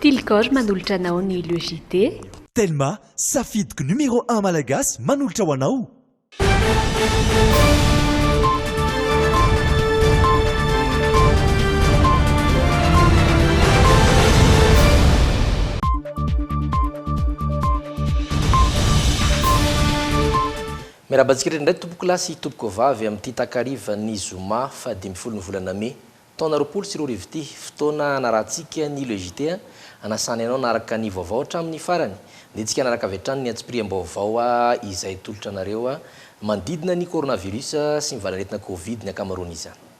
Tilgor manolotra anao ny Le JT. Telma, safidiko numéro un malagasy manolotra ho anao. Miarahaba antsika rehetra indray tompokolahy sy tompokovavy amin'ity takarivan'ny zoma fahadimy ambin'ny folo ny volana mey Taona roapolo sy roa arivo ity, fotoana hanarahantsika ny Le JT a, hanasana ianao hanaraka ny vaovao hatramin'ny farany. Handehantsika hanaraka avy hatrany ny antsipiriam-baovao a izay atolotra anareo a, manodidina ny coronavirus sy ny valan'aretina covid ny ankamaroan'izany.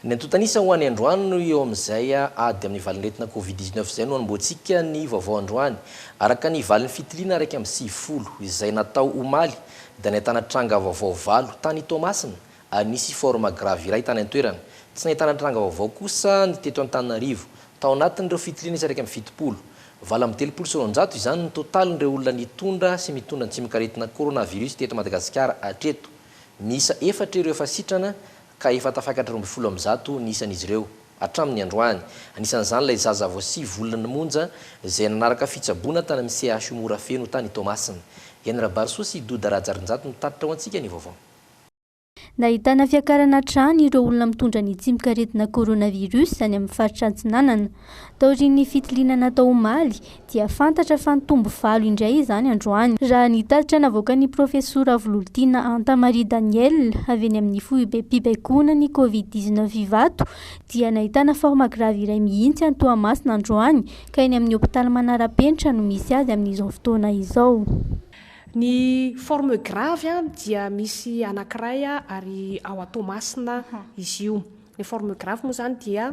Ny antontan'isa ho any androany no eo amin'izay a, ady amin'ny valan'aretina covid dix-neuf izay no hanombohantsika ny vaovao androany. Araka ny valin'ny fitiliana iraika amby sivifolo izay natao omaly dia nahitana tranga vaovao valo tany Toamasina ary nisy forme grave iray tany an-toerana. Tsy nahitana tranga vaovao kosa ny teto Antananarivo. Tao anatin'ireo fitiliana isa iraika amby fitopolo, valo amby telopolo sy roanjato izany ny totalin'ireo olona nitondra sy mitondra ny tsimok'aretina coronavirus teto Madagasikara hatreto. Miisa efatra ireo efa sitrana ka efa tafakatra roa ambin'ny folo amby zato ny isan'izy ireo. hatramin'ny androany. Anisan'izany ilay zaza vao sivy volana monja izay nanaraka fitsaboana tany amin'ny CHU Morafeno tany Toamasina. Eny Rabarisoa sy Doda Rajarinjato mitatitra ho antsika ny vaovao. Nahitana fiakarana hatrany ireo olona mitondra ny tsimokaretina coronavirus any amin'ny faritra Atsinanana. Taorian'ny fitiliana natao omaly, dia fantatra fa nitombo valo indray izany androany, raha ny tatitra navoakan'ny Profesora Vololtiana Anta Marie Daniel avy eny amin'ny foibem-pibaikoana ny Covid dix neuf Ivato dia nahitana forme grave iray mihitsy any Toamasina androany ka eny amin'ny hopitaly Manarapenitra no misy azy amin'izao fotoana izao. Ny forme grave dia misy anankiray ary ao Toamasina izy io. Ny forme grave moa izany dia.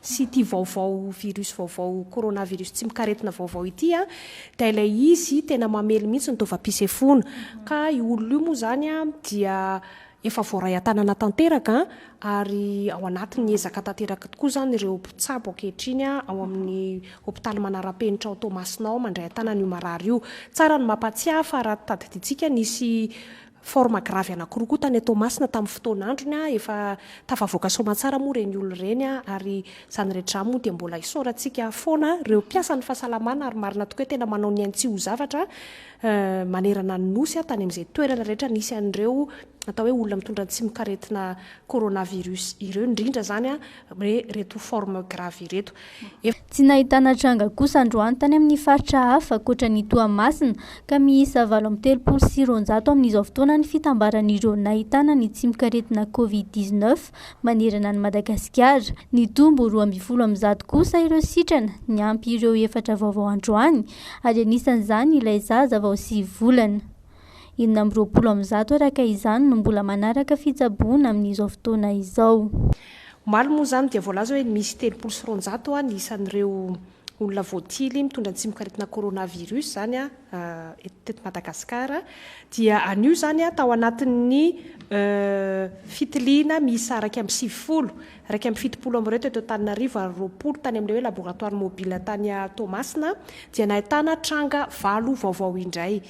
sy ity vaovao virus vaovao coronavirus tsy mikaretina vaovao ity a, dia ilay izy tena mamely mihitsy ny taovam-pisefoana, ka io olona io moa izany a dia efa voaray an-tanana tanteraka ary ao anatin'ny ezaka tanteraka tokoa izany ireo mpitsabo ankehitriny ao amin'ny hopitaly manara-penitra ao Toamasina ao mandray an-tanana io marary io. Tsara ny mampatsiahy fa raha tadidintsika nisy Forme grave anakiroa koa tany Toamasina tamin'ny fotoana androny a, efa tafavoaka soamatsara moa ireny olona ireny a, ary izany rehetra izany moa dia mbola isaorantsika foana ireo mpiasan'ny fahasalamana ary marina tokoa hoe tena manao ny ainy tsy ho zavatra manerana ny Nosy a, tany amin'izay toerana rehetra nisy an'ireo atao hoe olona mitondra antsimokaretina coronavirus ireo indrindra izany a, Re reto forme grave ireto. Efa. Tsy nahitana tranga kosa androany tany amin'ny faritra hafa ankoatra ny Toamasina ka miisa valo amby telopolo sy roanjato amin'izao fotoana ny fitambaran'ireo nahitana ny tsimokaretina Covid dix neuf manerana an'i Madagasikara. Nitombo roa ambin'ny folo amin'ny zato kosa ireo sitrana niampy ireo efatra vaovao androany ary anisan'izany ilay zaza vao sivy volana. Enina amby roapolo amin'ny zato araka izany no mbola manaraka fitsaboana amin'izao fotoana izao. Omaly moa izany dia voalaza hoe misy telopolo sy roanjato ny isan'ireo olona voatily mitondra ny tsimokaretina coronavirus izany teto Madagasikara. Dia anio izany tao anatin'ny fitiliana miisa iraika amby sivifolo, iraika amby fitopolo amin'ireo teto Antananarivo ary roapolo tany amin'ilay hoe laboratoire mobile tany Toamasina dia nahitana tranga valo vaovao indray.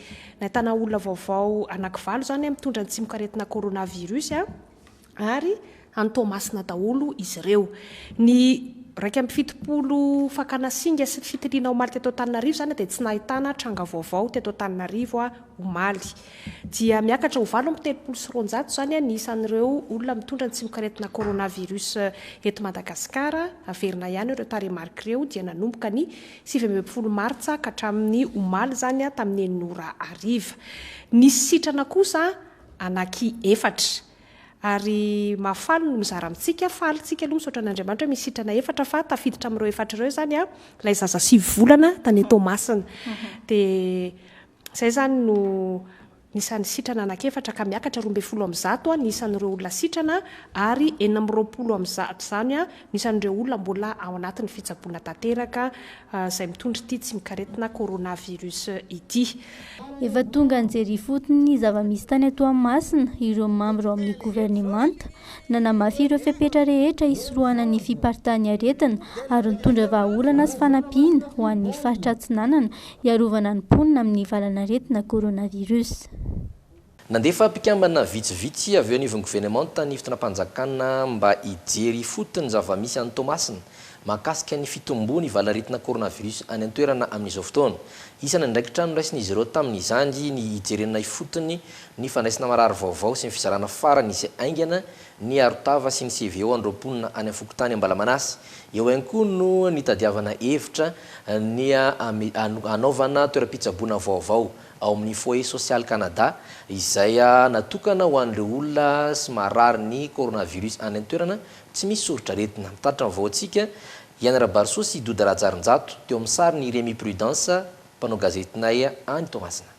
Nahitana olona vaovao anakivalo izany mitondra ny tsimokaretina coronavirus ary any Toamasina daholo izy ireo. Ny iraika amby fitopolo fakana singa sy ny fitiliana omaly teto Antananarivo izany dia tsy nahitana tranga vaovao teto Antananarivo omaly. Dia miakatra ho valo amby telopolo sy roanjato izany ny isan'ireo olona mitondra ny tsimokaretina coronavirus eto Madagasikara. Averina ihany ireo tarehimarika ireo dia nanomboka ny sivy ambin'ny folo martsa ka hatramin'ny omaly izany tamin'ny enina ora hariva. Nisy sitrana kosa anaky efatra ary mahafaly ny mizara amintsika, faly tsika aloha misaotra an'Andriamanitra hoe misy sitrana efatra fa tafiditra amin'ireo efatra ireo izany ilay zaza sivy volana tany Toamasina dia izay izany no Ny isan'ny sitrana anankiefatra ka miakatra roa ambin'ny folo amin'ny zato ny isan'ireo olona sitrana ary enina amby roapolo amin'ny zato izany no isan'ireo olona mbola ao anatin'ny fitsaboana tanteraka izay mitondra ity tsimok'aretina coronavirus ity. Efa tonga nijery ifotony ny zava-misy tany Toamasina ireo mambra ao amin'ny governemanta. Nanamafy ireo fepetra rehetra hisorohana ny fiparitahan'ny aretina ary nitondra vahaolana sy fanampiana ho an'ny faritra Atsinanana hiarovana ny mponina amin'ny valan'aretina coronavirus. Nandefa mpikambana vitsivitsy avy eo anivon'ny governemanta ny fitondram-panjakana mba hijery ifotony ny zava-misy any Toamasina mahakasika ny fitomboan'ny valan'aretina coronavirus any an-toerana amin'izao fotoana. Isan'ny andraikitra noraisin'izy ireo tamin'izany ny hijerena ifotony ny fandraisana marary vaovao sy ny fizarana farany izay haingana Ny arotava sy ny CVO an'ireo mponina any amin'ny fokontany Ambalamanasy. Eo ihany koa no nitadiavana hevitra ny hanaovana toeram-pitsaboana vaovao ao amin'ny Foyer Social Canada izay natokana ho an'ireo olona sy marary ny coronavirus any an-toerana tsy misy soritr'aretina. Mitatitra ny vaoantsika, Ian Rabarisoa sy Doda Rajarinjato, teo amin'ny sariny i Rémy Prudence, mpanao gazetinay any Toamasina.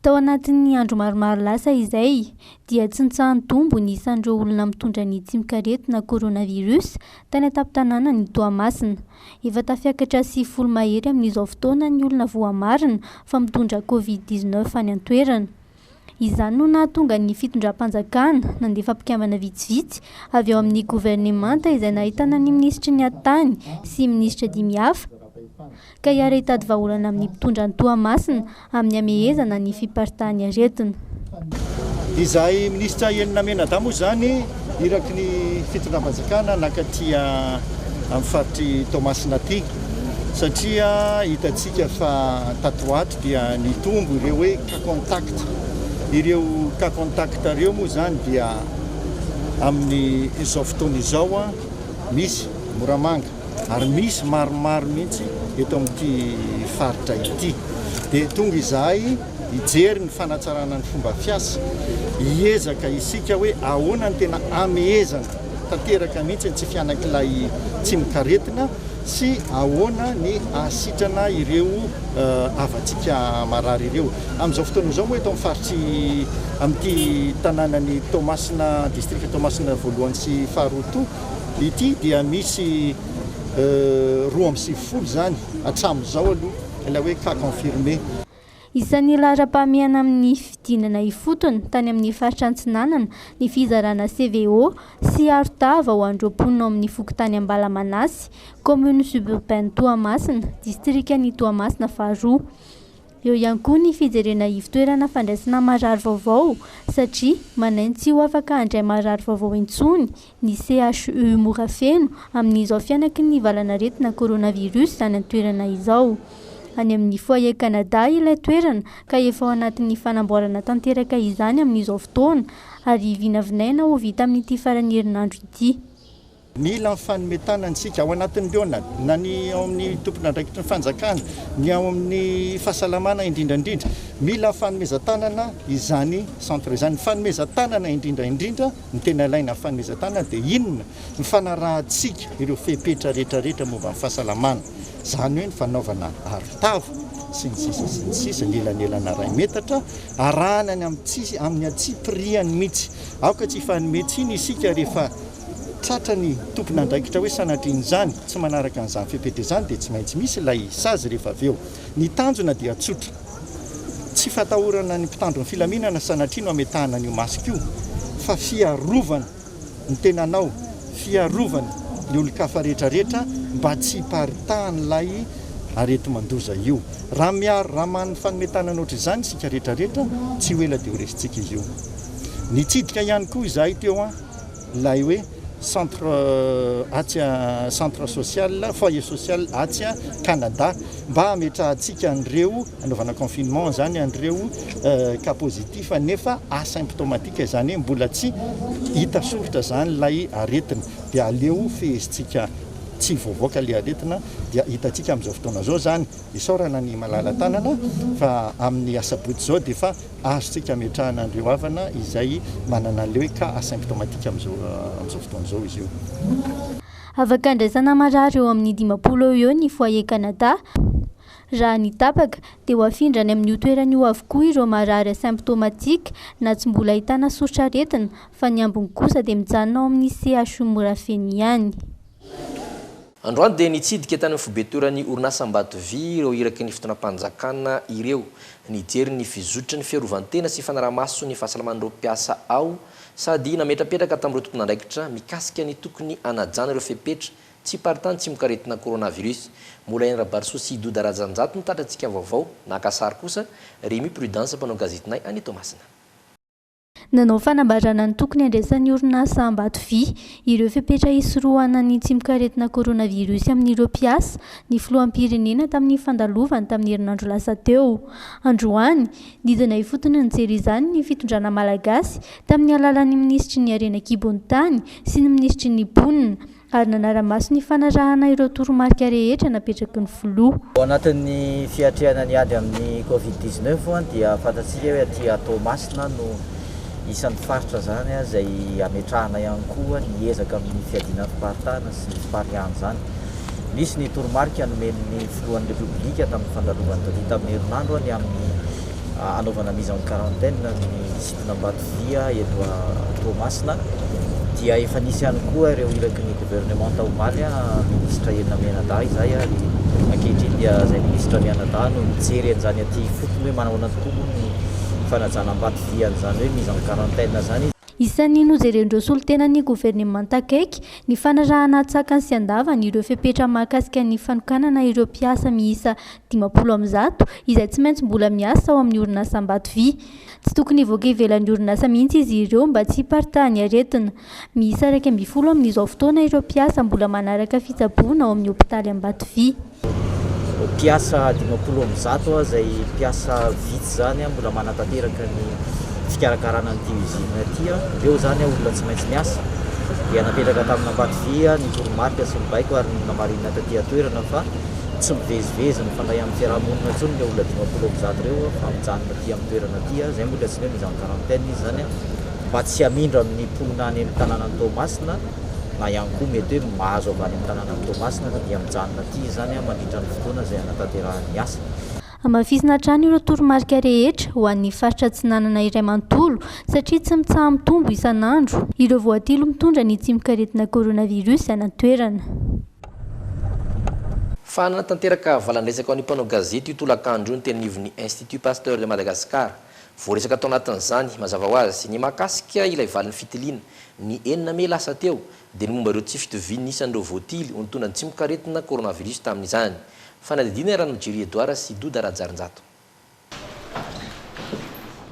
Tao anatin'ny andro maromaro lasa izay, dia tsy nitsaha-nitombo ny isan'ireo olona mitondra ny tsimok'aretina coronavirus tany an-tampon-tanànan'i Toamasina. Efa tafiakatra sivifolo mahery amin'izao fotoana ny olona voamarina fa mitondra covid dix neuf any an-toerana. Izany no nahatonga ny fitondram-panjakana nandefa mpikambana vitsivitsy avy ao amin'ny governemanta izay nahitana ny minisitry ny Hattany sy minisitra dimy hafa, Ka hiara hitady vahaolana amin'ny mpitondra any Toamasina amin'ny hamehezana ny fiparitahan'ny aretina. Izahay minisitra enina menadahy moa izany iraky ny fitondram-panjakana naka aty amin'ny faritr'i Toamasina aty satria hitantsika fa tato ho ato dia nitombo ireo hoe cas contact. Ireo cas contact ireo moa izany dia amin'izao fotoana izao misy Moramanga. ary misy maromaro mihitsy eto amin'ity faritra ity. Dia tonga izahay hijery ny fanatsarana ny fomba fiasa, hiezaka isika hoe ahoana ny tena hamehezana tanteraka mihitsy ny tsy fihanak'ilay tsimokaretina sy ahoana ny hahasitrana ireo havantsika marary ireo. Amin'izao fotoana izao moa eto amin'ny faritry amin'ity tanànan'i Toamasina, distrika Toamasina voalohany sy faharoa toa, ity dia misy roa amby sivifolo izany hatramin'izao aloha ilay hoe cas confirmé. Isan'ny laharam-pahamehana amin'ny fidinana ifotony tany amin'ny faritra Antsinanana ny fizarana CVO sy arotava ho an'ireo mponina ao amin'ny fokontany Ambalamanasy, commune suburbaine Toamasina, distrikan'i Toamasina faharoa. Eo ihany koa ny fijerena ivotoerana fandraisana marary vaovao satria manaingo tsy ho afaka handray marary vaovao intsony ny CHU Morafeno amin'izao fihanaky ny valan'aretina coronavirus izany an-toerana izao. Any amin'ny Foyer Canada ilay toerana ka efa ao anatin'ny fanamboarana tanteraka izany amin'izao fotoana ary vinavinaina ho vita amin'ity faran'ny herinandro ity. Mila ny fanome tanana isika, ao anatin'ny liona, na ny ao amin'ny tompon'andraikitry ny fanjakana, ny ao amin'ny fahasalamana indrindra indrindra. Mila ny fanomezan-tanana izany centre izany. Ny fanomezan-tanana indrindra indrindra, ny tena ilaina amin'ny fanomezan-tanana dia inona? Ny fanarahantsika ireo fepetra rehetra rehetra momba ny fahasalamana. Izany hoe ny fanaovana arotava sy ny sisa sy ny sisa, ny elanelana iray metatra, arahana ny amin'ny tsy amin'ny antsipiriany mihitsy. Aoka tsy hifanome tsiny isika rehefa Tratra ny tompon'andraikitra hoe sanatrian'izany tsy manaraka an'izany fepetra izany dia tsy maintsy misy ilay sazy rehefa avy eo. Ny tanjona dia tsotra. Tsy fatahorana ny mpitandro ny filaminana sanatria no ametahana an'io masque io fa fiarovana ny tenanao, fiarovana ny olon-kafa rehetrarehetra mba tsy hiparitahan'ilay areti-mandoza io. Raha miaro, raha manome fanome tanana ohatr'izany isika rehetrarehetra, tsy ho ela dia ho resintsika izy io. Nitsidika ihany koa izahay teo an! ilay hoe centre atsy centre social foyer social atsy Canada mba hametrahantsika an'ireo anaovana confinement izany an'ireo cas positif nefa asymptomatique izany hoe mbola tsy hita soritra izany ilay aretina dia aleo fehezintsika tsy voavoaka ilay aretina dia hitantsika amin'izao fotoana izao izany isaorana ny malala tanana fa amin'ny asabotsy izao dia fa Azontsika ametrahana an'ireo havana izay manana le cas asymptomatique amin'izao fotoana izao izy io. Afakandraisana marary eo amin'ny dimampolo eo ho eo ny Foyer Canada. Raha ny tapaka, dia ho afindra any amin'io toerana io avokoa ireo marary asymptomatique na tsy mbola ahitana soritr'aretina, fa ny ambiny kosa dia mijanona ao amin'ny CHU Morafeno ihany. Androany dia nitsidika tany amin'ny foibe toeran'ny orinasa Ambato Vy ireo iraky ny fitondram-panjakana ireo. Nijery ny fizotry ny fiarovan-tena sy fanaraha-maso ny fahasalaman'ireo mpiasa ao sady nametrapetraka tamin'ireo tompon'andraikitra mikasika ny tokony hanajana ireo fepetra tsiparitany tsimokaretina coronavirus. Mbola i Rabarisoa sy Doda Rajanjato no tratrantsika vaovao. Naka sary kosa Remy Prudence mpanao gazetinay any Toamasina. Nanao fanambarana ny tokony handraisan'ny orinasa Ambato Vy ireo fepetra hisorohana ny tsimokaretina coronavirus amin'ireo mpiasa ny filoham-pirenena tamin'ny fandalovany tamin'ny herinandro lasa teo. Androany, nidina ifotony nijery izany ny fitondrana malagasy tamin'ny alalan'ny minisitry ny harena an-kibon'ny tany sy ny minisitry ny mponina, ary nanara-maso ny fanarahana ireo toromarika rehetra napetraky ny Filoha. Ao anatin'ny fiatrehana ny ady amin'ny Covid dix neuf dia fantatsika hoe aty Toamasina no isan'ny faritra izany izay hametrahana ihany koa ny ezaka amin'ny fiadiana antim-paritana sy ny farihan'izany. Nisy ny toromarika nomen'ny Filohan'ny Repoblika tamin'ny fandalovany taty tamin'ny herinandro ny amin'ny hanaovana mise en quarantaine ny Ambatodia eto Toamasina dia efa nisy ihany koa ireo iraky ny governemanta omaly ministra Enina Mianadahy izay ary ankehitriny dia izay ministra Mianadahy no mijery an'izany aty ifotony hoe manahoana tokoa moa ny fanajana ambatodia an'izany hoe mise en quarantaine izany izy. Isan'ny nojeren'ireo solontenan'ny governemanta akaiky ny fanarahana an-tsakany sy an-davany ireo fepetra mahakasika ny fanokanana ireo mpiasa miisa dimampolo amin'ny zato izay tsy maintsy mbola miasa ao amin'ny orinasa Ambatovia. Tsy tokony hivoaka ivelan'ny orinasa mihitsy izy ireo mba tsy hiparitahan'ny aretina. Miisa iraika ambin'ny folo amin'izao fotoana ireo mpiasa mbola manaraka fitsaboana ao amin'ny hopitaly Ambatovy. Mpiasa dimampolo amin'ny zato izay mpiasa vitsy izany mbola manatanteraka ny fikarakarana an'ity usine ity. Ireo izany olona tsy maintsy miasa dia napetraka tamin'ny Ambatovy ny toromarika sy ny baiko ary nomarinina taty an-toerana fa tsy mivezivezy mifandray amin'ny fiarahamonina intsony ireo olona dimampolo amin'ny zato ireo fa mijanona aty amin'ny toerana aty, izay moa ilay antsoina hoe mise en quarantaine izy izany, mba tsy hamindra amin'ny mponina any amin'ny tanànan'i Toamasina na ihany koa mety hoe mahazo avy any amin'ny tanànan'i Toamasina fa dia mijanona aty izany mandritra ny fotoana izay hanatanterahany ny asa. Hamafisina hatrany ireo toromarika rehetra ho an'ny faritra Atsinanana iray manontolo satria tsy mitsaha-mitombo isan'andro ireo voatily mitondra ny tsimokaretina coronavirus any an-toerana. Fa nanatanteraka valandresaka ho an'ny mpanao gazety io tolakandro io ny tenanivon'ny Institut Pasteur de Madagascar. Voaresaka tao anatin'izany, mazava ho azy, ny mahakasika ilay valin'ny fitiliana, ny enina mey lasa teo, dia ny momba ireo tsy fitovian'ny isan'ireo voatily ho nitondra ny tsimokaretina coronavirus tamin'izany. Fanadihadiana Ranojiry Edouard sy Doda Rajarinjato.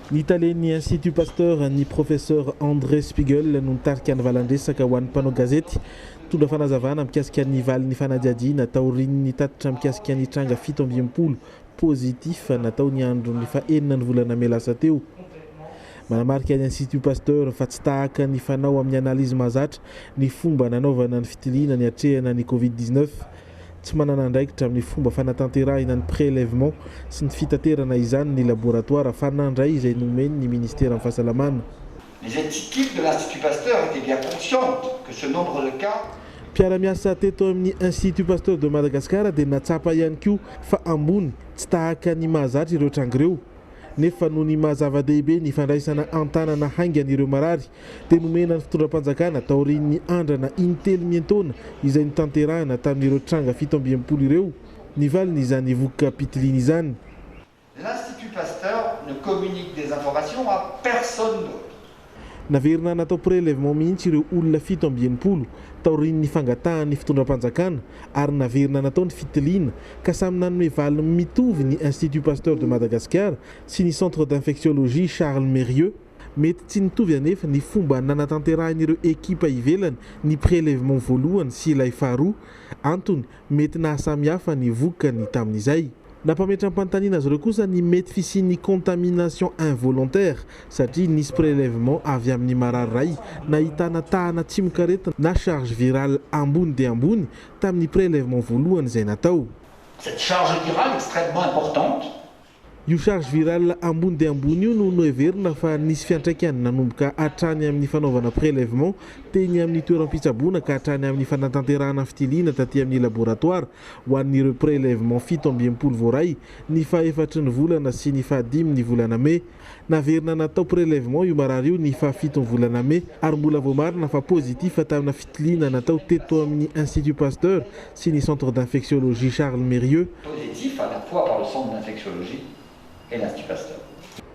Ny talen'ny Institut Pasteur, ny Professeur André Spiegel no nitarika ny valandresaka ho an'ny mpanao gazety. Nitondra fanazavana mikasika ny valin'ny fanadihadiana taorian'ny tatitra mikasika ny tranga fito amby enimpolo positif natao ny andron'ny fahenina ny volana mey lasa teo. Manamarika ny Institut Pasteur fa tsy tahaka ny fanao amin'ny analyse mahazatra ny fomba nanaovana ny fitiliana niatrehana ny Covid dix-neuf. Tsy manana andraikitra amin'ny fomba fanatanterahina ny prélèvement sy ny fitaterana izany ny laboratoara fa nandray izay nomeny ny Ministeran'ny Fahasalamana. Les équipes de l'Institut Pasteur étaient bien conscientes que ce nombre de cas. Mpiara-miasa teto amin'ny Institut Pasteur de Madagascar dia natsapa ihany koa fa ambony, tsy tahaka ny mahazatra ireo tranga ireo. Nefa noho ny maha-zava-dehibe ny fandraisana an-tanana haingana ireo marary dia nomena ny fitondram-panjakana taorian'ny andrana in-telo miantaona izay notanterahina tamin'ireo tranga fito amby enimpolo ireo ny valin'izany voka pitiliana izany. L'Institut Pasteur ne communique des informations à personne d'autre. Naverina natao prelèvement mihitsy ireo olona fito amby enimpolo taorian'ny fangatahan'ny fitondram-panjakana ary naverina natao ny fitiliana ka samy nanome valiny mitovy ny Institut Pasteur de Madagascar sy ny Centre d'Infectiologie Charles Mérieux Mety tsy nitovy anefa ny fomba nanatanterahin'ireo ekipa ivelany ny prélèvement voalohany sy ilay faharoa. Antony, mety nahasamihafa ny vokany tamin'izay. Nampametram-panontaniana azy ireo kosa ny mety fisian'ny contamination involontaire satria nisy prélèvement avy amin'ny marary iray nahitana tahana tsimokaretina na charge virale ambony dia ambony tamin'ny prélèvement voalohany izay natao. Cette charge virale extrêmement importante Io charge virale ambony dia ambony io no noheverina fa nisy fiantraikany nanomboka hatrany amin'ny fanaovana prelèvement teny amin'ny toeram-pitsaboana ka hatrany amin'ny fanatanterahana fitiliana taty amin'ny laboratoire ho an'ireo prelèvement fito amby enimpolo voaray ny fahefatry ny volana sy ny fahadimy ny volana mey. Naverina natao prelèvement io marary io ny fahafito ny volana mey ary mbola voamarina fa positif tamina fitiliana natao teto amin'ny Institut Pasteur sy ny Centre d'Infectiologie Charles Mérieux, Positif à la fois par le Centre d'Infectiologie et l'Institut Pasteur.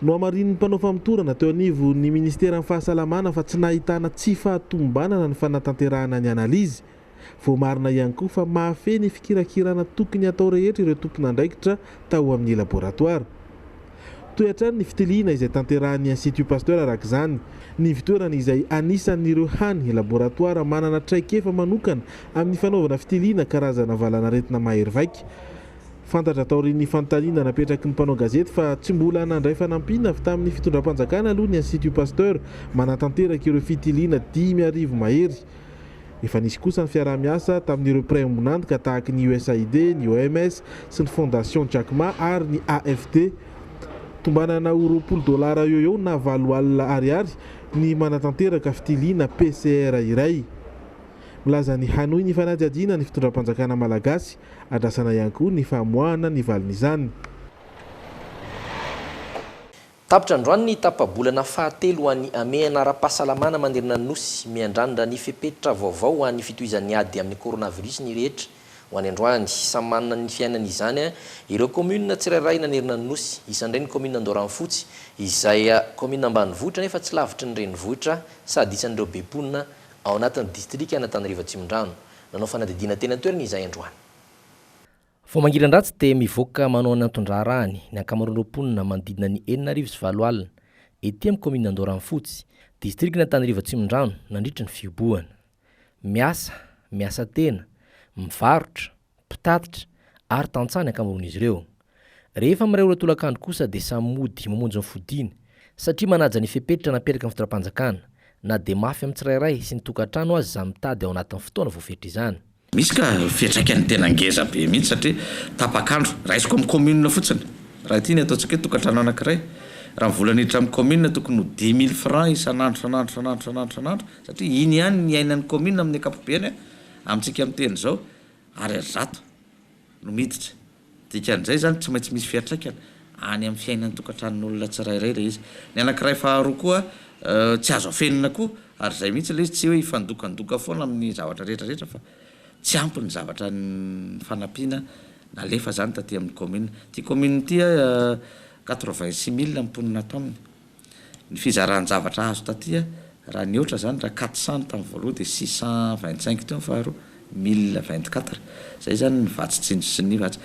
Nohamarinin'ny mpanao famotorana teo anivon'ny Ministeran'ny Fahasalamana fa tsy nahitana tsy fahatomombanana ny fanatanterahana ny analizy. Voamarina ihany koa fa mahafehy ny fikirakirana tokony hatao rehetra ireo tompon'andraikitra tao amin'ny laboratoara. Toy hatrany ny fitiliana izay tanterahin'ny Institut Pasteur araka izany, ny ivontoerany izay anisan'ireo hany laboratoara manana traikefa manokana amin'ny fanaovana fitiliana karazana valanaretina mahery vaika. Fantatra taorian'ny fanontaniana napetraky ny mpanao gazety fa tsy mbola nandray fanampiana avy tamin'ny fitondram-panjakana aloha ny Institut Pasteur manatanteraka ireo fitiliana dimy arivo mahery Efa nisy kosa ny fiaraha-miasa tamin'ireo mpiray ombon'antoka tahaky ny USAID, ny OMS sy ny Fondation Jack Ma ary ny AFD. Tombanana ho roapolo dolara eo eo na valo alina ariary ny manatanteraka fitiliana PCR iray. Milaza ny hanohy ny fanadihadiana ny fitondram-panjakana malagasy, andrasana ihany koa ny famoahana ny valin'izany. Tapitra androany ny tapa-bolana fahatelo ho an'ny hamehana ara-pahasalamana manerana ny Nosy. Miandrandra ny fepetra vaovao ho an'ny fitohizan'ny ady amin'ny coronavirus ny rehetra. Ho any androany, samy manana ny fiainany izany ireo kaominina tsirairay nanerana ny Nosy. Isan' ireny ny kaominina Andoharanofotsy, izay kaominina ambanivohitra nefa tsy lavitry ny renivohitra sady isan'ireo be mponina ao anatin'ny distrikan'Antananarivo Atsimondrano. Nanao fanadihadiana teny an-toerana izahay androany. Vao mangiran-dratsy dia mivoaka manao ny anton-draharahany ny ankamaroan'ireo mponina manodidina ny enina arivo sy valo alina, ety amin'ny kaominina Andoharanofotsy, distrikan'Antanirivo Atsimondrano nandritra ny fihobohana. Miasa, miasa tena, mivarotra, mpitatitra ary tantsaha ny ankamaroan'izy ireo. Rehefa miray ora tolakandro kosa dia samy mody mamonjy ny fodiany satria manaja ny fepetra napetraky ny fitondram-panjakana na dia mafy amin'ny tsirairay sy ny tokantrano aza izany mitady ao anatin'ny fotoana voafetra izany. Misy ka fiantraikany tena ngeza be mihitsy satria tapak'andro, raisiko amin'ny commune fotsiny, raha ity ny ataontsika hoe tokantrano anankiray, raha ny vola niditra amin'ny commune tokony ho dix mille francs isan'andro isan'andro isan'andro isan'andro isan'andro satria iny ihany ny iainan'ny commune amin'ny ankapobeany an, amintsika miteny izao, ariary zato. no miditra. Dikan'izay izany tsy maintsy misy fiantraikany any amin'ny fiainan'ny tokantranon'olona tsirairay ilay izy. Ny anankiray faharoa koa tsy azo afenina koa ary izay mihitsy ilay izy tsy hoe hifandokandoka foana amin'ny zavatra rehetrarehetra fa tsy ampy ny zavatra fanampiana nalefa izany taty amin'ny commune. Ity commune ity a quatre vingt six mille ny mponina ato aminy. Ny fizaran-javatra azo taty raha nihoatra izany raha quatre cents tamin'ny voaloha dia six cent vingt cinq teo ny faharoa, mille vingt quatre. Izay izany ny vatsy tsinjo sy ny vatsy.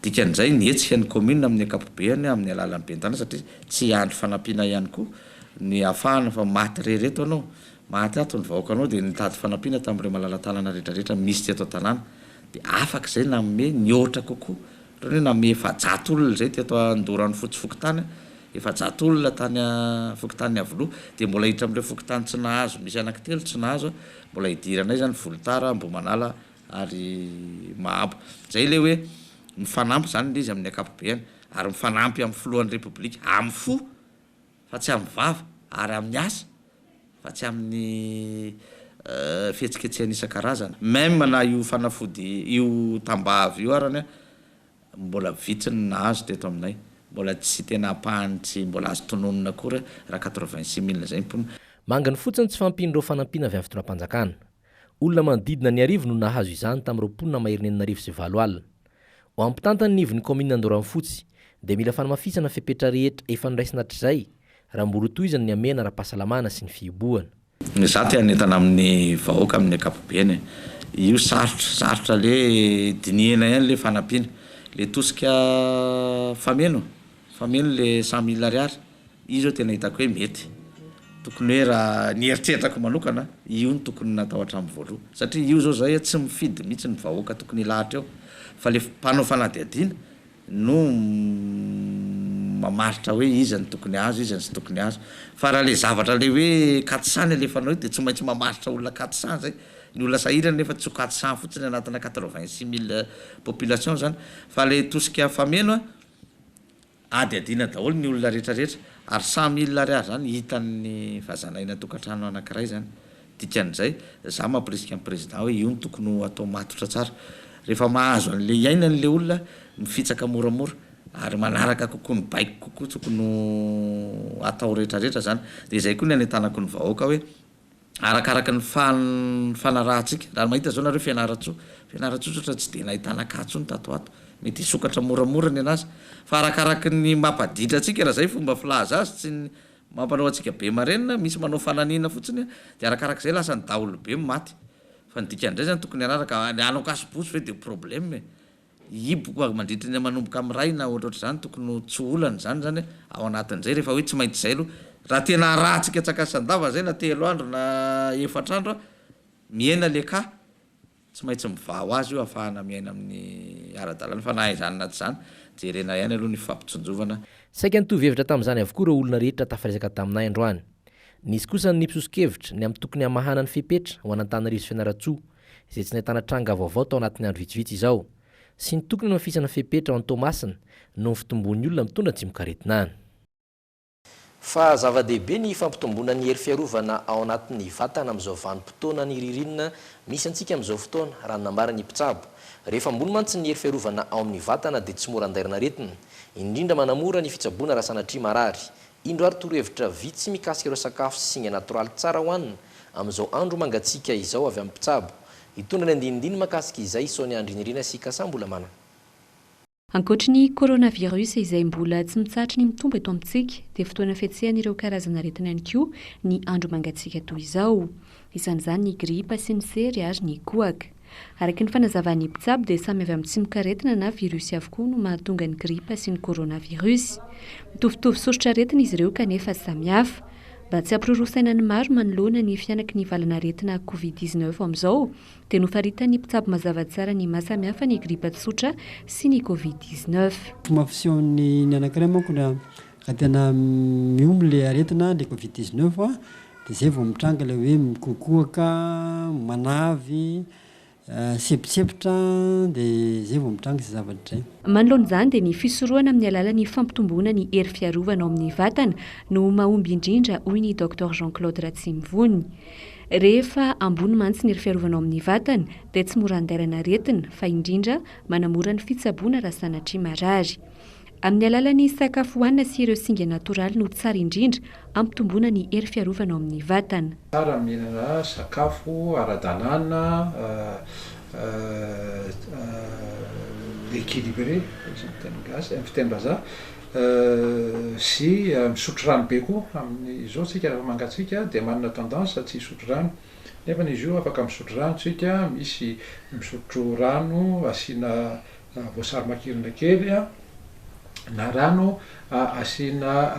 Dikan'izay ny hetsika ny commune amin'ny ankapobeany amin'ny alalan'ny ben'ny tanàna satria tsy hiandry fanampiana ihany koa ny hahafahana fa maty re reto anao, maty ato ny vahoakanao dia nitady fanampiana tamin'ireo malala-tanana rehetra rehetra misy teto an-tanàna dia afaka izay nanome nihoatra kokoa. Ohatran'ny hoe namehy efajato olona izay teto Andoharanofotsy fokontany, efajato olona tany fokontanin'i Iavoloha, dia mbola hiditra amin'ireo fokontany tsy nahazo, misy anaky telo tsy nahazo, mbola hidiranay izany Volotara, Ambohimanala ary Mahabo. Izay ilay hoe mifanampy izany ilay izy amin'ny ankapobeany ary mifanampy amin'ny filohan'ny Repoblika amin'ny fo. fa tsy amin'ny vava, ary amin'ny asa, fa tsy amin'ny fihetsiketsehana isan-karazany. Même na io fanafody, io tambavy io arany, mbola vitsy ny nahazo teto aminay. Mbola tsy tena ampahany tsy mbola azo tononina akory raha quatre-vingt-six mille izay ny mponina. Manginy fotsiny tsy fahampian'ireo fanampiana avy amin'ny fitondram-panjakana. Olona manodidina ny arivo no nahazo izany tamin'ireo mponina maheriny enina arivo sy valo alina. Ho an'ny mpitantana ny ivon'ny kaominina Andoranfotsy dia mila fanamafisana ny fepetra rehetra efa noraisina hatrizay raha mbola ho tohizana ny hamehana ara-pahasalamana sy ny fihibohana. Ny za te hanentana amin'ny vahoaka amin'ny ankapobeny io sarotra sarotra le dinihina ihany le fanampiana le tosika fameno. Fameno le cent mille ariary io zao tena hitako hoe mety, tokony hoe raha ny eritreritako manokana io no tokony natao hatramin'ny voaloha satria io zao zay tsy mifidy mihitsy ny vahoaka tokony hilahatra eo fa le mpanao fanadihadiana no mamaritra hoe iza no tokony azo iza no tsy tokony azo fa raha le zavatra le hoe quatre-cent ny alefanao io de tsy maintsy mamaritra olona quatre-cent zay, ny olona sahirana nefa tsy ho quatre-cent fotsiny anatina quatre-vingt-six mille population zany fa le tosika fameno a. Hadihadiana daholo ny olona rehetra rehetra ary samy il ary ary zany hitan'ny vazana eny antokantrano anakiray zany dikan'izay za mampirisika ny président hoe io no tokony ho atao matotra tsara rehefa mahazo an'le iainany le olona mifitsaka moramora ary manaraka kokoa ny baiko kokoa tokony ho atao rehetra rehetra zany de zay koa ny anentanako ny vahoaka hoe arakaraka ny fanarahantsika. Raha mahita izao nareo Fianarantsoa, Fianarantsoa tsotra tsy dia nahitana cas intsony tato ho ato, mety hisokatra moramora ny anazy, fa arakaraka ny mampaditra antsika raha izay fomba filaza azy, tsy ny mampanao antsika be marenina, misy manao fananina fotsiny dia arakaraka izay lasa ny daholobe maty, fa ny dikany indray izany tokony hanaraka, ny hanao cas pousse ve dia problème e! hiboka ary mandritra ny manomboka miray na ohatra ohatr'izany tokony ho tsy olana izany izany ao anatin'izay rehefa hoe tsy maintsy izay aloha raha tena harahantsika tsakasan-dava izay na telo andro na efatra andro a mihena le cas tsy maintsy mivaha ho azy io hahafahana miaina amin'ny ara-dalàna fa na izany na tsy izany jerena ihany aloha ny fampitsonjovana Saika nitovy hevitra tamin'izany avokoa ireo olona rehetra tafaresaka taminay androany. Nisy kosa ny nipisoso-kevitra ny amin'ny tokony hamahana ny fepetra ho an'Antananarivo sy Fianarantsoa, izay tsy nahitana tranga vaovao tao anatin'ny andro vitsivitsy izao, sy ny tokony hamafisana fepetra ao Toamasina noho ny fitomboan'ny olona mitondra antsimokaretina any. Fa zava-dehibe ny fampitomboana ny hery fiarovana ao anatin'ny vatana amin'izao vanim-potoanan'ny ririnina misy antsika amin'izao fotoana, raha ny nambaran'ny mpitsabo. Rehefa ambony mantsy ny hery fiarovana ao amin'ny vatana dia tsy mora andairana aretina, indrindra manamora ny fitsaboana raha sanatria marary, Indro ary torohevitra vitsy mikasika ireo sakafo sy singa natoraly tsara hohanina amin'izao andro mangatsiaka izao avy amin'ny mpitsabo. Hitondra ny andinindiny makasika izay i Sonia Andrinirina sy i Kasa Ambolamana. Ankoatry ny coronavirus izay mbola tsy mitsahatra ny mitombo eto amintsika dia fotoana fihetsehan'ireo karazana aretina ihany koa ny andro mangatsiaka toy izao. Isan'izany ny gripa sy ny sery ary ny kohaka. Araky ny fanazavan'ny mpitsabo dia samy avy amin'ny tsimokaretina na virus avokoa no mahatonga ny gripa sy ny coronavirus. Mitovitovy soritr'aretina izy ireo kanefa samy hafa. Mba tsy hampiroro saina ny maro manoloana ny fihanaky ny valan'aretina covid dix neuf amin'izao dia nofaritan'ny mpitsabo mazava tsara ny maha samy hafa ny gripa tsotra sy ny covid dix neuf. Tomboampiseho ny ny anankiray manko na Raha tena miomy ilay aretina, ilay covid dix neuf, dia izay vao mitranga ilay hoe mikoakoaka, manavy, sempotsempotra, dia izay vao mitranga izay zavatra izay. Manoloana izany dia ny fisorohana amin'ny alalan'ny fampitomboana ny hery fiarovana ao amin'ny vatana no mahomby indrindra hoy ny Doctor Jean Claude Ratsimivony. Rehefa ambony mantsy ny hery fiarovana ao amin'ny vatana dia tsy mora andairan'aretina fa indrindra manamora ny fitsaboana raha sanatria marary. Amin'ny alalan'ny sakafo hohanina sy ireo singa natoraly no tsara indrindra hampitomboana ny hery fiarovana ao amin'ny vatana. Tsara ny mihinana sakafo ara-dalàna, équilibré hoy ny teny gasy, amin'ny fiteny vazaha, sy misotro rano be koa. Amin'izao isika rehefa mangatsiaka dia manana tendance tsy hisotro rano nefa izy io afaka misotro rano isika, misy misotro rano asiana voasary makirana kely na rano asiana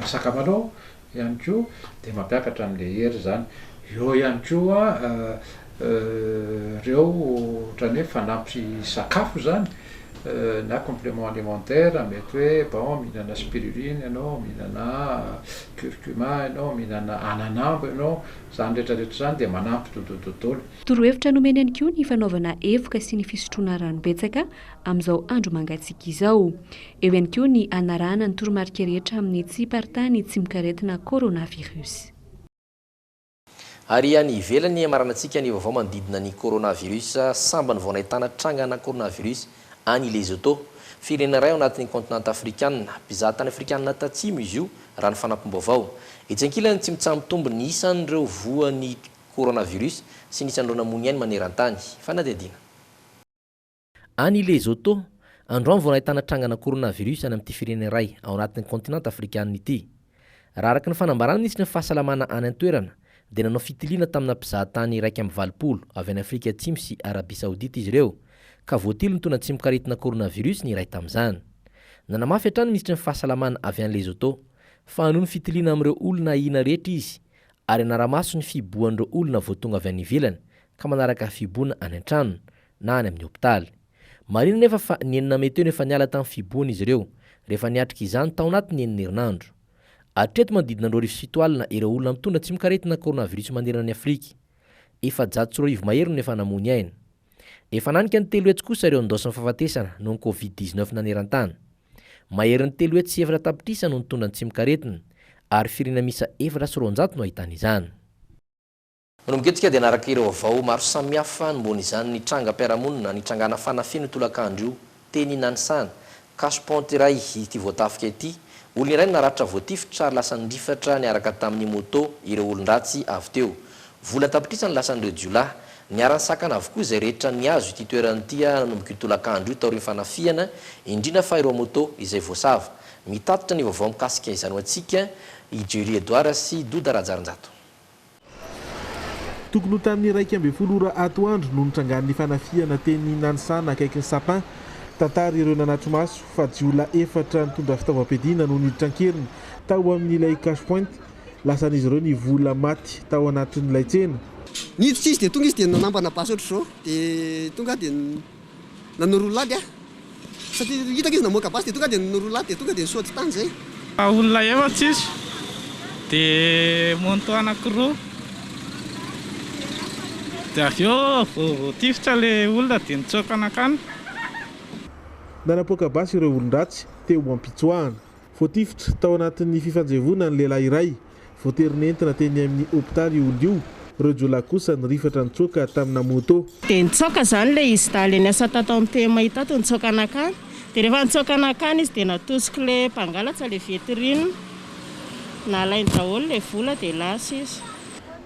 sakamalao ihany koa dia mampiakatra an'ilay hery izany, eo ihany koa ireo ohatran'ny hoe fanampy sakafo izany na complement alimentaire mety hoe bon mihinana spiruline ianao, mihinana curcuma ianao, mihinana ananambo ianao, izany rehetra rehetra izany dia manampy dodododona. Torohevitra nomeny ihany koa ny fanaovana evoka sy ny fisotroana rano betsaka amin'izao andro mangatsiaka izao. Eo ihany koa ny hanarahana ny toromarika rehetra amin'ny tsy hiparitahan'ny tsimokaretina coronavirus. Ary any ivelany, hamaranantsika ny vaovao manodidina ny coronavirus, sambany vao nahitana trangana coronavirus any Lesotho, firenena iray ao anatin'ny kaontinanta afrikanina. Mpizaha tany afrikanina tatsimo izy io, raha ny fanampim-baovao. Etsy ankilany, tsy mitsaha-mitombo ny isan'ireo voan'ny Coronavirus sy ny tsandrona mony ainy maneran-tany. Fanadihadiana. Any Lesotho, androany vao nahitana trangana coronavirus any amin'ity firenena iray ao anatin'ny kaontinanta afrikanina ity. Raha araka ny fanambarana minisitry ny fahasalamana any an-toerana dia nanao fitiliana tamina mpizahatany iraika amby valopolo avy any Afrika Atsimo sy Arabia Saodita izy ireo ka voatily nitondra an-tsimokaretina coronavirus ny iray tamin'izany. Nanamafy hatrany ny minisitry ny fahasalamana avy any Lesotho fa hanohy ny fitiliana amin'ireo olona ahiana rehetra izy ary hanara-maso ny fihibohan'ireo olona vao tonga avy any ivelany ka manaraka fihiboana any an-trano na any amin'ny hopitaly. Marihina anefa fa ny enina mey teo no efa niala tamin'ny fihibohana izy ireo, rehefa niatrika izany tao anatin'ny enina herinandro. Hatreto manodidina roa arivo sy fito alina ireo olona mitondra tsimok'aretina coronavirus manerana an'i Afrika. Efajato sy roa arivo mahery no efa namoy aina. Efa hananika ny telo hetsy kosa ireo nondaosin'ny fahafatesana noho ny Covid dix-neuf naneran-tany. Maherin'ny telo hetsy sy efatra tapitrisa no nitondra ny tsimok'aretina, ary firiana miisa efatra sy roanjato no ahitana izany. Manomboka eto isika dia hanaraka ireo vaovao maro samihafa anombohana izany ny trangam-piarahamonina nitrangana fanafihana io tolakandro io teny Nanisana. Cash point iray ity voatafika ity. Olona iray no naratra voatifitra ary lasa nirifatra niaraka tamin'ny moto ireo olon-dratsy avy teo. Vola an-tapitrisa no lasan'ireo jiolahy. Niara-nisakana avokoa izay rehetra nihazo ity toerana ity nanomboka io tolakandro io taorian'ny fanafihana, indrindra fa ireo moto izay voasava. Mitatitra ny vaovao mikasika izany ho antsika i Jerry Edouard sy Doda Rajarinjato. Tokony ho tamin'ny iraika ambin'ny folo ora atoandro no nitrangan'ny fanafihana teny Nanisana akaikin'ny Sapin. Tantara ireo nanatri-maso fa jiolahy efatra nitondra fitaovam-piadiana no niditra an-keriny tao amin'ilay Cash Point lasan'izy ireo ny vola maty tao anatin'ilay tsena. Niditra izy dia tonga izy dia nanambana basy ohatr'izao dia tonga aho dia nanoro ny lagy aho satria hitako izy namoaka basy dia tonga aho dia nanoro ny lagy dia tonga dia nisaoty tany izay. Olona efatra izy dia moto anankiroa dia avy eo vao voatifitra ilay olona dia nitsoaka nankany. Nanapoaka basy ireo olon-dratsy teo am-pitsoahana. Voatifitra tao anatin'ny fifanjevoana ny lehilahy iray. Voatery nentina teny amin'ny hopitaly io olona io. Ireo jiolahy kosa nirifatra nitsoaka tamina moto. Dia nitsoaka izany ilay izy daly niasa tato amin'ny TMA tato, nitsoaka nankany. Dia rehefa nitsoaka nankany izy dia natosik'ilay mpangalatra ilay vitrine. Nalainy daholo ilay vola dia lasa izy.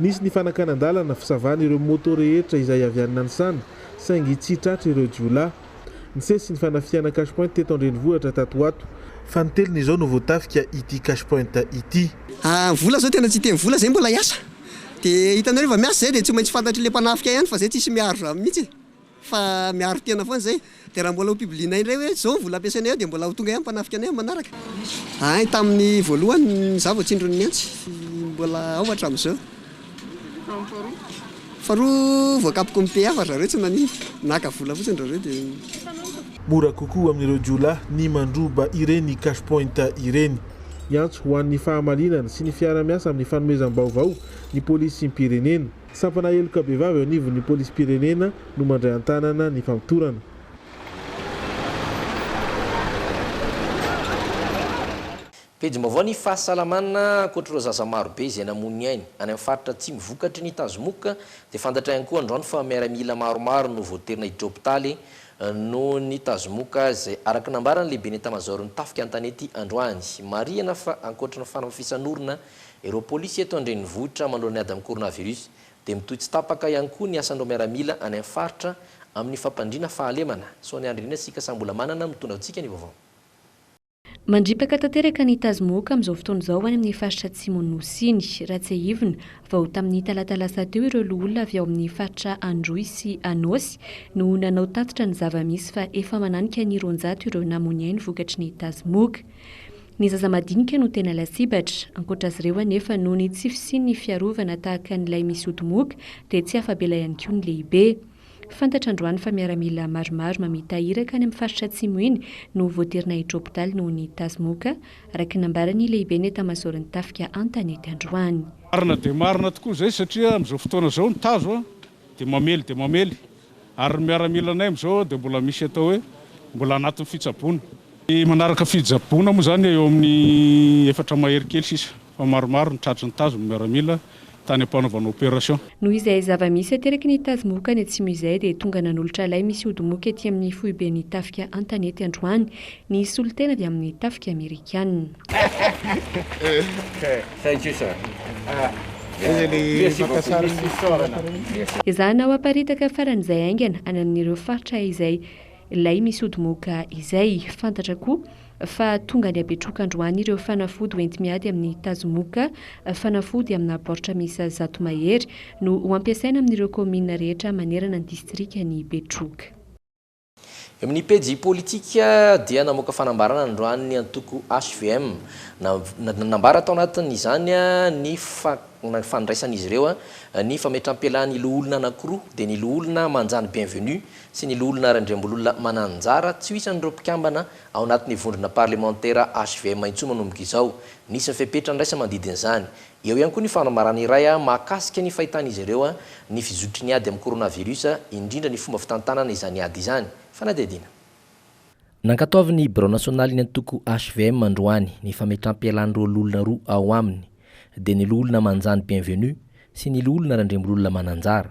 Nisy ny fanakanan-dalana, fisavana ireo moto rehetra izay avy any Nanisana saingy tsy tratra ireo jiolahy. Nisesy ny fanafihana cash point teto an-drenivohitra tato ho ato, fa ny telina izao no voatafika ity cash point ity. Ah vola zao tena tsy hiteny vola zay mbola hiasa de hitanareo va miasa zay de tsy maintsy fantatry le mpanafika ihany fa zay tsisy miaro zany mihitsy fa miaro tena foana zay de raha mbola ho publienay indray hoe zao ny vola ampiasainay ao de mbola ho tonga ihany mpanafika anay am manaraka ahy tamin'ny voalohany za vao tsindrony mihantsy mbola ao hatramizao. Faharoa voakapoko ny PF ry zareo tsy maninona. Naka vola fotsiny ry zareo dia. Mora kokoa amin'ireo jiolahy ny mandroba ireny cash point ireny. Miantso ho an'ny fahamalinana sy ny fiara-miasa amin'ny fanomezam-baovao ny polisim-pirenena. Sampana heloka bevava eo anivon'ny polisim-pirenena no mandray an-tanana ny famotorana. Pejim-baovao Ny fahasalamana Ankoatr'ireo zaza maro be izay namoy ny ainy, any amin'ny faritra atsimo vokatry ny tazomoka, dia fantatra ihany koa androany fa miaramila maromaro no voaterina hidrôpitaly noho ny tazomoka izay araka ny nambaran'ny lehiben'ny etamazaoron'ny tafika an-tanety androany. Marihana fa ankoatry ny fanamafisan'orona ireo polisy eto an-drenivohitra manoloana ny ady amin'ny coronavirus dia mitohy tsy tapaka ihany koa ny asan'ireo miaramila any amin'ny faritra amin'ny fampandriana fahalemana. Sonia Andrianirina Sikasambolamanana mitondra antsika ny vaovao. Mandripaka tanteraka ny tazomoka amin'izao fotoana izao any amin'ny faritra atsimon'ny Nosy iny. Raha tsiahivina, vao tamin'ny talata lasa teo ireo loholona avy ao amin'ny faritra Androy sy Anôsy no nanao tatitra ny zava-misy fa efa mananika ny roanjato ireo namoy ny ainy vokatry ny tazomoka. Ny zaza madinika no tena lasibatra. Ankoatra azy ireo anefa, noho ny tsy fisian'ny fiarovana tahaka an'ilay misy ody moka dia tsy afa-bela ihany koa ny lehibe. Fantatra androany fa miaramila maromaro mamita iraka any amin'ny faritra Atsimo iny no voatery naiditra hopitaly noho ny tazomoka, araka ny nambaran'ny lehiben'ny etamazaoron'ny tafika an-tanety androany. Marina dia marina tokoa izay satria amin'izao fotoana izao ny tazo dia mamely dia mamely ary ny miaramilanay amin'izao dia mbola misy atao hoe mbola anatin'ny fitsaboana. Manaraka fitsaboana moa izany eo amin'ny efatra mahery kely sisa. fa maromaro ny tratry ny tazo ny miaramila tany am-panaovana opération. Noho izay zava-misy ateraky ny tazo moka any atsimo izay dia tonga nanolotra lay misy ody moka ety amin'ny foiben'ny tafika Antanety androany ny solontena avy amin'ny tafika amerikana. Ezahana ho aparitaka faran'izay haingana any amin'ireo faritra izay lay misy ody moka izay. Fantatra koa. fa tonga ny habetroka androany ireo fanafody ho enti-miady amin'ny tazomoka, fanafody amina baoritra miisa zato mahery no ho ampiasaina amin'ireo kaominina rehetra manerana ny distrikan'i Betroka. Eo amin'ny pejy politika dia namoaka fanambarana androany ny antoko hvm. Nanambara tao anatin'izany ny fandraisan'izy ireo ny fametram-pialan'ny loholona anankiroa, dia ny loholona Manjany Bienvenue sy ny loholona Randriambololona Mananjara, tsy ho isan'ireo mpikambana Ao anatin'ny vondrona parlemantera HVM intsony manomboka izao. Nisy ny fepetra niraisa manodidina izany. Eo ihany koa ny fanambarana iray mahakasika ny fahitan'izy ireo ny fizotry ny ady amin'ny coronavirus, indrindra ny fomba fitantanana izany ady izany. Fanadihadiana. Nankatoavin'ny birao nasionalin'ny antoko HVM androany ny fametram-pialàn'ny roaloholona roa ao aminy, dia ny Loholona Manjany Bienvenu sy ny Loholona Randriambololona Mananjara.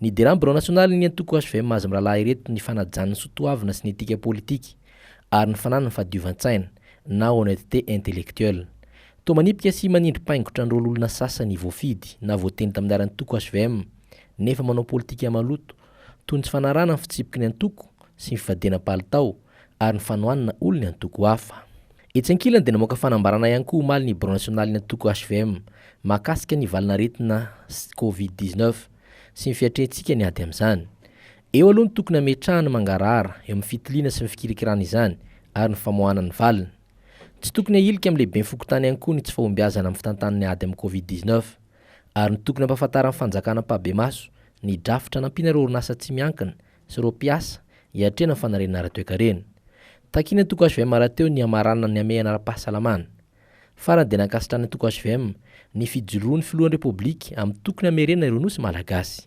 Nidiran'ny Birao Nasionalin'ny Antoko hvm azy mirahalahy ireto ny fanajan'ny soatoavina sy ny etika politika ary ny fananany fahadiovan-tsaina na honnêteté intellectuelle. Toa manipika sy manindri-paingotra ny rohololona sasany voafidy na voatendry tamin'ny laharan-toko hvm nefa manao politika maloto toy ny tsy fanarahana ny fitsipiky ny antoko sy ny fivadiana palitao ary ny fanohanana olon'ny antoko hafa. Etsy ankilany dia namoaka fanambarana ihany koa omaly ny birao nasionalin'ny antoko hvm mahakasika ny valin'aretina covid dix neuf sy ny fiatrehantsika ny ady amin'izany. Eo aloha ny tokony hametrahana ny mangarahara eo amin'ny fitiliana sy ny fikirakirana izany ary ny famoahana ny valiny. Tsy tokony hahilika amin'ny lehiben'ny fokontany ihany koa ny tsy fahombiazana amin'ny fitantanana ny ady amin'ny covid dix neuf ary ny tokony hampahafantaran'ny fanjakana ampahibemaso ny drafitra nampiana ireo orinasa tsy miankina sy ireo mpiasa hiatrehana ny fanariana ara-toekarena. Takian'ny antoko hvm rahateo ny hamaranana ny hamehana ara-pahasalamana. Farany dia nankasitrahan'ny antoko hvm ny fijoroan'ny filohan'ny Repoblika amin'ny tokony hamerena ireo Nosy Malagasy.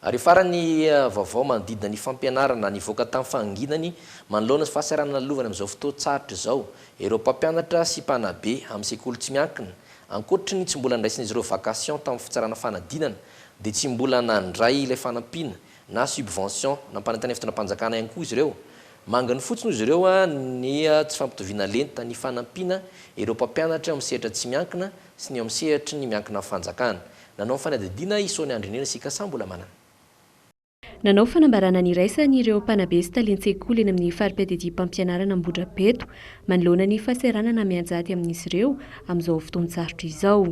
Ary farany ny vaovao manodidina ny fampianarana nivoaka tamin'ny fahanginany manoloana ny fahasarana nalovaina amin'izao fotoan-tsarotra izao ireo mpampianatra sy mpanabe amin'ny sekoly tsy miankina. Ankoatry ny tsy mbola nandraisan'izy ireo vacation tamin'ny fitsarana fanadinana, dia tsy mbola nandray ilay fanampiana na subvention nampanentanay fitondram-panjakana ihany koa izy ireo. Manginy fotsiny hoy izy ireo ny tsy fampitoviana lenta ny fanampiana ireo mpampianatra eo amin'ny sehatra tsy miankina sy ny eo amin'ny sehatry ny miankina amin'ny fanjakana. Nanao ny fanadihadiana i Sonia Andrinirina sy i Kassa Mbolamanana. Nanao fanambarana niraisana ireo mpanabe sy talen-tsekoly eny amin'ny fari-piadidiam-pampianarana Ambohidrapeto manoloana ny fahasahiranana mianjady amin'izy ireo amin'izao fotoan-tsarotra izao.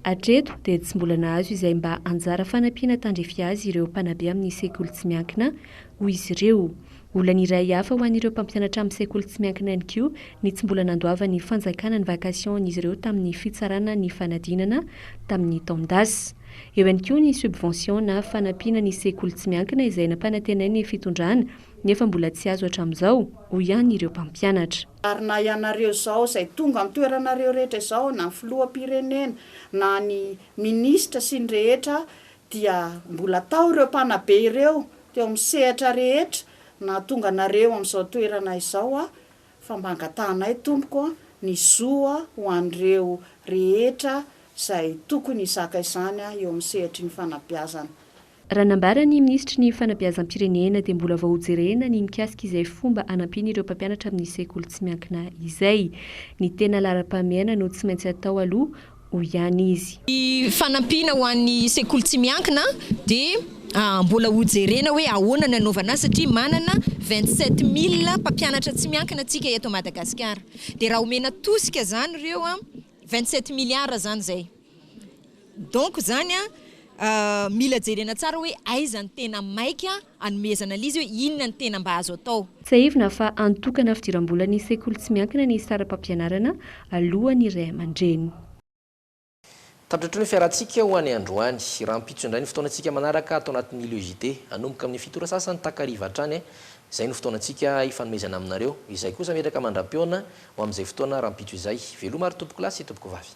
Hatreto dia tsy mbola nahazo izay mba anjara fanampiana tandrify azy ireo mpanabe amin'ny sekoly tsy miankina, hoy izy ireo. Olana iray hafa ho an'ireo mpampianatra amin'ny sekoly tsy miankina ihany koa ny tsy mbola nandoavan'ny fanjakana ny vacation-n'izy ireo tamin'ny fitsarana ny fanadinana tamin'ny taon-dasa. Eo ihany koa ny subvention na fanampiana ny sekoly tsy miankina izay nampanantenain'ny fitondrana nefa mbola tsy azo hatramin'izao, hoy ihany ireo mpampianatra. Ary na ianareo izao izay tonga an-toeranareo rehetra izao na ny filoham-pirenena na ny minisitra sy ny rehetra dia mbola tao ireo mpanabe ireo teo amin'ny sehatra rehetra nahatonga anareo amin'izao toerana izao aho, fa mba angatahanay Tompoko ny zo ho an'ireo rehetra izay tokony hizaka izany eo amin'ny sehatry ny fanabeazana. Raha nambara ny Minisitry ny Fanabeazam-pirenena dia mbola vao hojerena ny mikasika izay fomba hanampian'ireo mpampianatra amin'ny sekoly tsy miankina izay. Ny tena laharam-pahamehana no tsy maintsy atao aloha hoy ihany izy. Ny fanampiana ho an'ny sekoly tsy miankina dia mbola ho jerena hoe ahoana ny hanaovana azy satria manana vingt sept mille mpampianatra tsy miankina tsika eto Madagasikara dia raha omena tosika zany ireo vingt sept milliards zany zay donc zany mila jerena tsara hoe aiza ny tena maika Anomezana an'izy hoe inona ny tena mba azo atao. Tsiahivina fa antonkana fidiram-bolan'ny sekoly tsy miankina ny saram-pampianarana alohan'ny ray aman-dreny. Tandrotro ny fiarantsika ho any androany. Rahampitso indray ny fotoanantsika manaraka ato anatin'ny Le JT. Hanomboka amin'ny fito ora sasany takariva hatrany. Izay no fotoanantsika hifanomezana aminareo. Izahay kosa mipetraka mandra-pihaona ho amin'izay fotoana rahampitso izay. Veloma ary Tompokolahy sy Tompokovavy.